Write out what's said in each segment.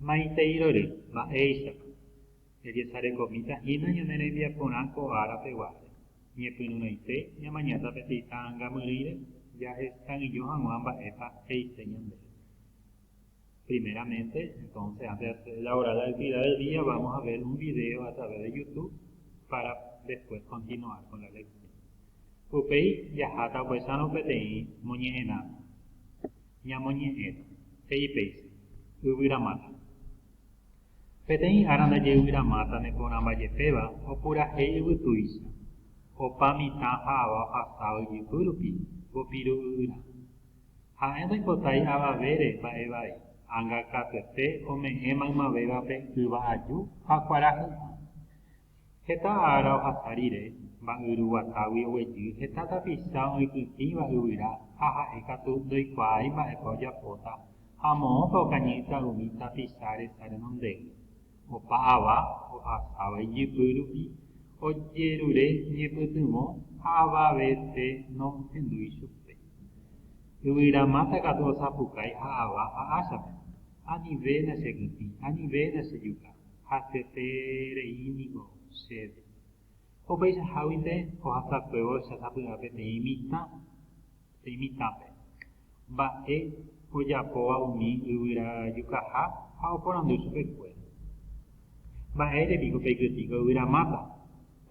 Maitei rory, mba'éichapa. Jajesarekomíta hína ñane rembiaporã ko ára peguáre. Ñepyrũrãite ñamaña tapeteĩ ta'ãngamyrỹire jahesag̃illo hag̃ua mba'épa he'ise ñandéve. Primeramente, entonces, antes de hacer la oral actividad del día, vamos a ver un video a través de YouTube para después continuar con la lección. Upéi jaháta opaichárõ peteĩ moñe'ẽrãme. Ñamoñe'ẽrõ, he'i péicha, yvyramáta. Peteĩ ára ndajeyvyramáta neporãmbajepéva opurahéi yvytúicha, opa mitã ha ava ohasa oijypy rupi, vopiru yvyra. Ha'e ndoipotái avavére mba'e vai, anga katuete ome'ẽ maymavévape yva aju ha kuarahy'ã. Heta ára ohasa rire, mba'yru guatágui oguejy heta tapicha oipytĩva yvyra ha ha'e katu ndoikuaái mba'épa ojapóta ha moõpa okañýta umi tapicha resa renondégui. Opa ava ohasáva ijypy rupi ojerure ñepytyvõ ha avavete nohendúi chupe. Yvyramáta katu osapukái ha ava ha áchape, Anivéna che kytĩ, anivéna che juka. haseterei niko chéve. Opaichaháguinte ohasakuévo chasapy'a peteĩ mitã, peteĩ mitãpe. Mba'e ojapóva umi yvyrajukaha ha oporandu chupekuéra. Mba'ére piko peikytĩko yvyramáta?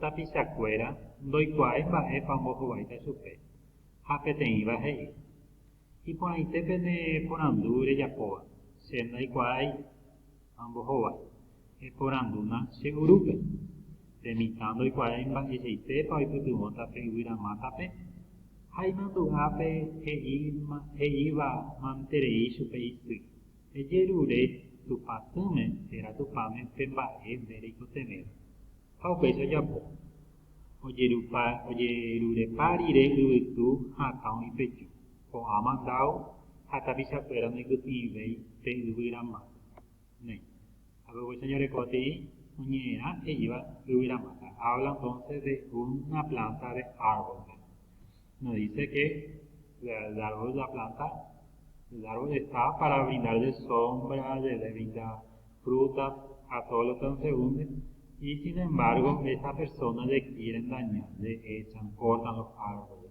Tapichakuéra ndoikuaái mba'épa ombohováita chupe, ha peteĩva he'i, Iporãite pene porandu rejapóva, che ndaikuaái. Ha ombohóva, eporandúna che urúpe, Pe mitã ndoikuaái mba'eichaitépa oipytyvõta pe yvyra mátape? Ha imandu'ápe he'íva manterei chupe isy, Ejerure Tupã Tỹme térã Tupãme pe mba'e nde reikotevẽva. Ha upéicha ojapo. Ojerurepa rire yvytu ha akã oĩ pe ju. ko'ã mandádo ha tapichakuéra noipytyĩvéi pe yvyra máta. Néi. Ha py'aguy cheñorekotei oñe'ẽrã he'íva yvyra máta. Habla entonces de una planta de árbol. No dice que el árbol es la planta, el árbol está para brindar de sombra, de, de brindar frutas a todos los transeúntes, y sin embargo, esas personas le quieren dañar, le echan, cortan los árboles.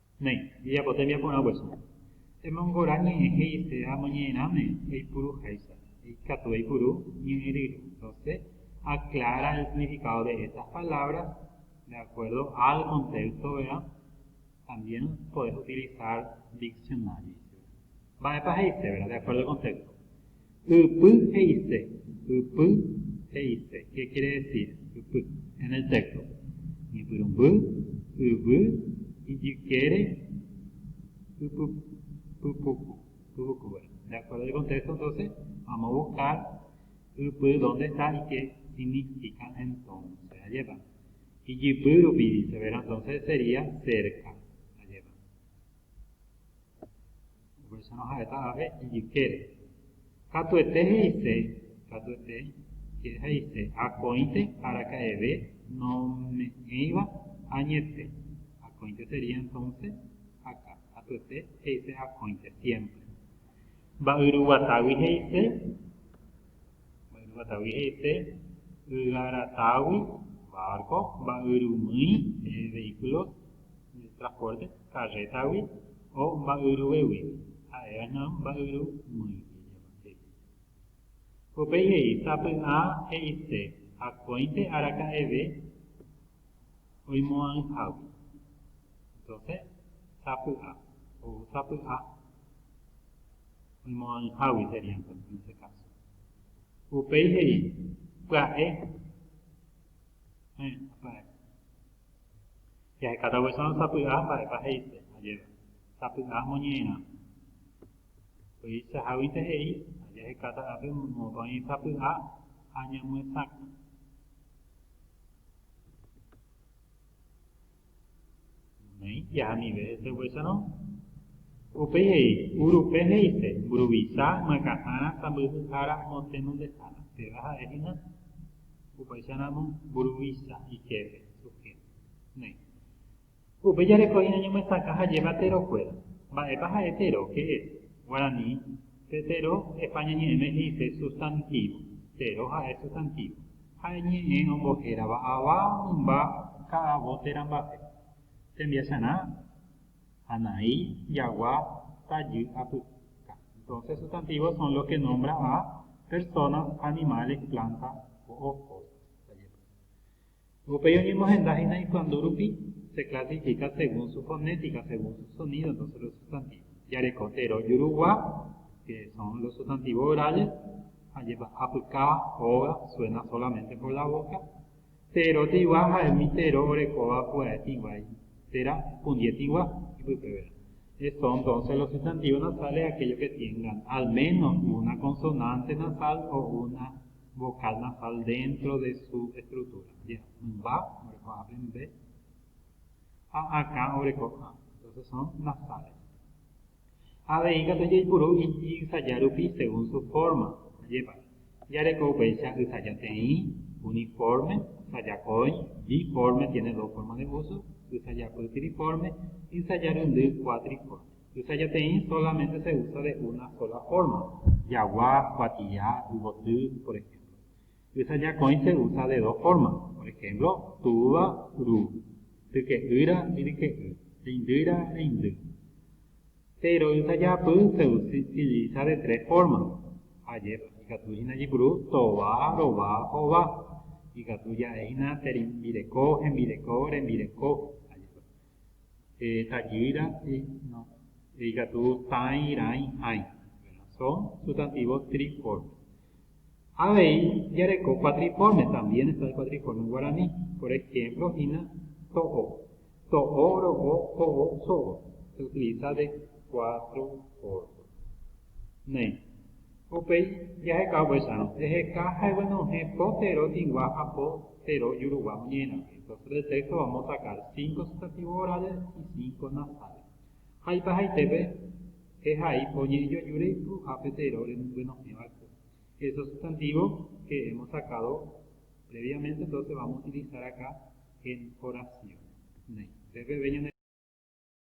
Néi, ejapo tembiaporã guasu. Emongora ñe'ẽ he'ise ha moñe'ẽrãme eipuru háicha. Eikatu eipuru ñe'ẽ rýru. Rose aclara el significado de estas palabras de acuerdo al contexto, verá, también podés utilizar diccionario. Mba'épa he'ise, verá, de acuerdo al contexto. Ypy he'ise. Ypy he'ise. Ke kere desir ypy en el texto? Ñepyrũmby, yvy, ijykére, ypypuku, yvyku, bueno. De acuerdo el contexto entonces vamos a buscar ypy dónde está y qué significa entonces. Allí va. Ijypy rupi dice, ¿verdad? Entonces sería cerca. Upéicharõ ha'éta ape ijykére. Katuete he'ise, katuete he'ise, akõite araka'eve nome'ẽiva añete, akõite sería entonces aka, katuete he'ise akõite siempre. Mba'yruguatágui he'ise, Mba'yrúva David he'ise ygarataágui, bárko, mba'yrumýi, vehíkulos de traspórte, karrétagui, o mba'yruvégui, ha'eva'erã mba'yrumýigui, he'i. Upéi he'i, Sapy'a he'ise, Akóinte araka'eve, oimo'ãihágui. Entonce, sapy'a, ou sapy'a oimo'ãihágui sería entonce en ese caso. Upéi he'i, pya'e. Heẽ, pya'e. Jahekáta guecho sapy'a mba'épa he'ise ajéva. Sapy'a moñe'ẽrã. Upeichaháguinte he'i, ajahekáta ápe moõpa oĩ sapy'a ha ñamyesakã. Noĩ ijaha anive hese upéicharõ. Upéi he'i, Urupe he'ise, mburuvicha, myakãhára, sãmbyhyhára, motenondehára. Péva ha'e hína, upéicharamo, mburuvicha, ijepe, sujéto. Noĩ. Upe jareko hína ñomyesakã ha jeva Tero kuéra. Mba'épa ha'e Tero, que es, guarani, pe Tero, España ñe'ẽme he'ise sustantivo, Tero ha'e sustantivo, ha'e ñe'ẽ ombohérava ava mymba ka'avo térã mba'e, tembiacharã, hanai, jagua, tajy, apyka. Entonces sustantivos son los que nombra a personas, animales, plantas o cosas. Upéi oñemohenda hína ikuandu rupi, se klasifika según su fonética, según su sonido, entonces los sustantivos. Jareko tero jurugua, que son los sustantivos orales, ajépa apyka, óga, suena solamente por la boca, tero tigua ha umi tero orekóva pya'e tĩguái, tera pundie tĩgua ipypevérõ. Es son entonces los sustantivos nasales aquellos que tiengan al menos una consonante nasal o una Vocal nasal dentro de su estructura. Ya. Mymba oreko ápe mbe. Ha akã oreko ã. Entonces son nasales. Avei katu jaipuru iji ysaja rupi según su forma. Ajepa. Jareko upéicha ysaja teĩ, uniforme, ysaja kói, biforme, tiene dos formas de uso, ysajapy triforme, ysaja ryndy cuatriforme. Tuichaiteĩ solamente se usa de una sola forma, jagua, kuatia, yvoty, por ejemplo. Tuichajakõi se usa de dos formas, por ejemplo, túva, ru, tyke'ýra, yryke'y, reindýra, reindy. Péro tuichajapy se utiliza de tres formas, ajépa, ikatu hína jepuru tova, rova, hova, ikatu ja'e hína terembireko, hembireko, rembireko, ajépa. Tajýira, no. Ikatu tãi, rãi, hãi. Son sustantivos triformes. Avei jareko cuatriforme, también está el cuatriforme en guaraní. Por ejemplo, hína to'o. To'o, ro'o, ho'o, so'o. Se utiliza de cuatro formas. Néi. Upéi jaheka oguesarõ, eheka ha eguenohẽ po tero tĩgua ha po tero ijurugua oñe'ẽrape. Entonces del texto vamos a sacar cinco sustantivos orales y cinco nasales. Ha ipehaitépe ehai po ñe'ẽjoju reipuruha pe tero remyguenohẽ va'ekue. Esos sustantivos que hemos sacado previamente entonces vamos a utilizar acá en oración. Néi. Entonces peve ñane.